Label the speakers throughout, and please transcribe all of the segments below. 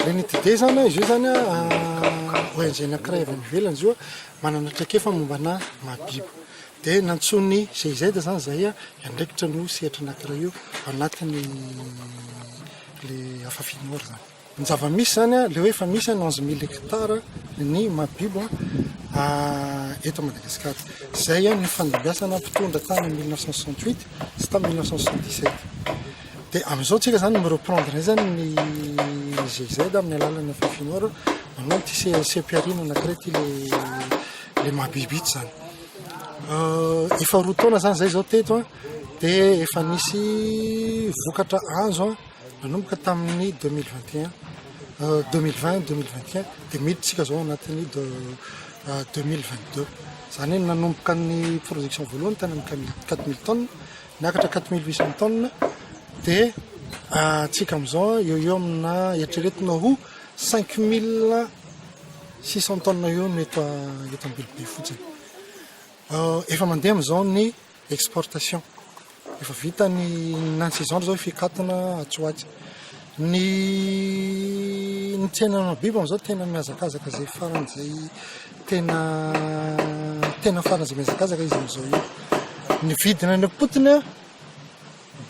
Speaker 1: Renitide zany izy io zany ONG anankiray avy any ivelany izy io manana traikefa mombana mahabibo dia nantsoin'ny GIZ zany zay hiandraikitra an'io sehatra anankiray io ao anatin'ny le Afafy Nord zany. Ny zava-misy izany dia hoe efa misy an onze mille hectares ny mahabibo eto Madagasikara. Izay an nifandimbiasana mpitondra tany mille neuf cent soixante huit sy tamin'ny mille neuf cent soixante dix sept. Dia amin'izao tsika izany mi-reprendre indray izany ny GIZ amin'ny alalan'ny FFINOR manao ity CPRI-na anankiray ity ilay mahabibo ito izany. Efa roa taona izany izay izao teto dia efa nisy vokatra azo an. Nanomboka tamin'ny deux mille vingt et un, deux mille vingt, deux mille vingt et un, dia miditra isika izao anatin'ny deux mille vingt deux. Izany hoe nanomboka ny production voalohany tany amin'ny quatre- quatre mille tonnes, niakatra quatre mille huit cents tonnes, dia antsika amin'izao eo eo amina eritreretina ho cinq mille six cents tonnes eo no eto a- eto Ambilobe fotsiny. Efa mandeha amin'izao ny. Exportation. Efa vita ny nan saison zao efa hikatona atsy ho atsy. Ny ny tsenana biby amizao tena mihazakazaka zay farany zay tena tena farany zay mihazakazaka izy amizao io. Ny vidina any am-potony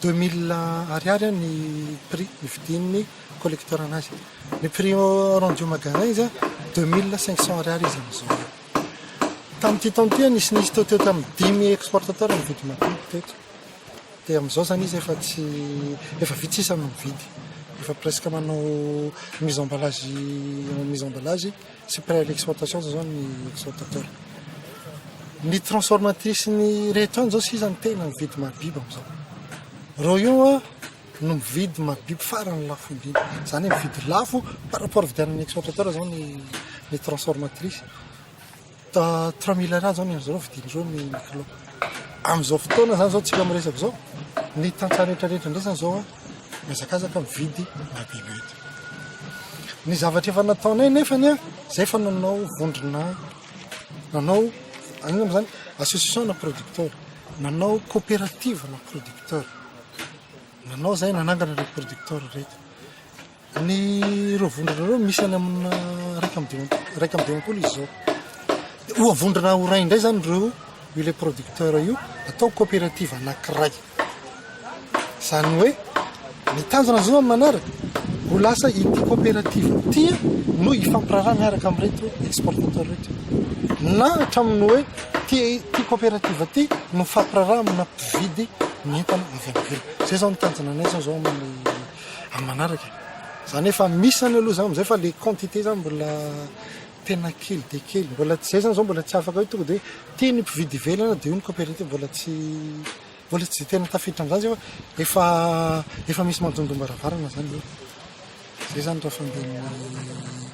Speaker 1: Deux mille ariary ny prix nividian'ny collecteur anazy. Ny prix au rendu au magasin izy deux mille cinq cents ariary izy amin'izao. Tamin'ity taona ity nisy nisy teo teo tamin'ny dimy exportateur nividy matetika teto. Dia amin'izao zany izy efa tsy efa vitsy sisa no mividy. Efa presque manao mise emballage mise emballage Tsy près de l'exploitation zao zany ny exportateur. Ny transformatrice ny rehetra any zao sisa ny tena mividy mabiba amizao. Reo io a no mividy mabiba farany lafo indrindra. Zany hoe mividy lafo par rapport vidian'ny exportateur zao ny ny transformatrice. Ta trois mille ariary zao ny azy reo vidiny reo ny kilo. Amizao fotoana zany zao tsika miresaka zao ny tantsaha retraretra ndray zany zao a. mihazakazaka mividy na biby eto. Ny zavatra efa nataonay nefany a, zay fa nanao vondrona, nanao anina moa zany association na producteur, nanao coopérative na producteur, nanao zay nanangana le producteur reto. Ny ireo vondrona ireo misy any amina iraika amby dimampolo, iraika amby dimampolo izy zao. Dia oa vondrona ho ray indray zany ireo io le producteur io atao coopérative anakiray. Zany hoe ny tanjona zao amin'ny manaraka ho lasa ity coopérative ity no hifampiraharaha miaraka amin'ireto exportateur reto. Na hatramin'ny hoe ty ty coopérative ty no mifampiraharaha amina mpividy ny entana avy any ivelany. Zay zao ny tanjona anay zao zao amin'ny Amin'ny manaraka e! Izany hoe fa misy izany aloha izany amin'izay fa ilay quantité izany mbola tena kely dia kely. Mbola tsy izay izany izao mbola tsy afaka hoe tonga dia hoe tia ny mpividy ivelany dia io ny coopérative. Mbola tsy mbola tsy dia tena tafiditra amin'izany izay fa efa efa misy manodondoam-baravarana izany eo. Izay izany raha fandehan'ny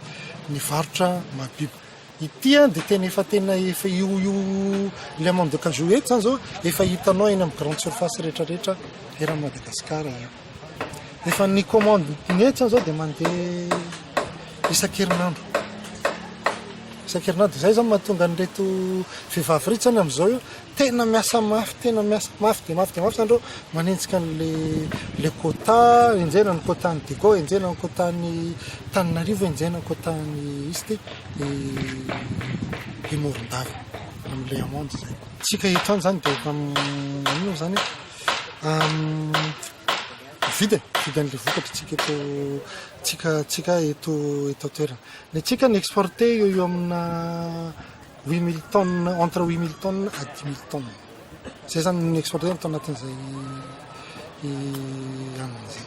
Speaker 1: ny varotra mahabibo. Ity an dia tena efa tena efa io io ilay mandeha de cajou eto zany zao efa hitanao eny amin'ny grande surface rehetra rehetra eran'i Madagasikara io. Efa ny commande ny eto zany zao dia mandeha isan-kerinandro. Isan-kerinandro izay zany mahatonga an'ireto vehivavy reto zany amin'izao io Tena miasa mafy, tena miasa mafy dia mafy dia mafy izany ireo manenjika an'ilay le quota, enjehina ny quota an'i Digo, enjehina ny quota an'i Tananarivo, enjehina ny quota an'i East i Morondava amin'ilay amende izay. Tsika eto ihany izany dia maninona izany vidiny, vidin'ilay vokatra tsika eto tsika tsika eto eto an-toerana. Ny antsika ny exporter eo eo amina Huit mille tonnes, entre huit mille tonnes à dix mille tonnes. Izay izany no ni-exporter ny tao anatin'izay hanina izay.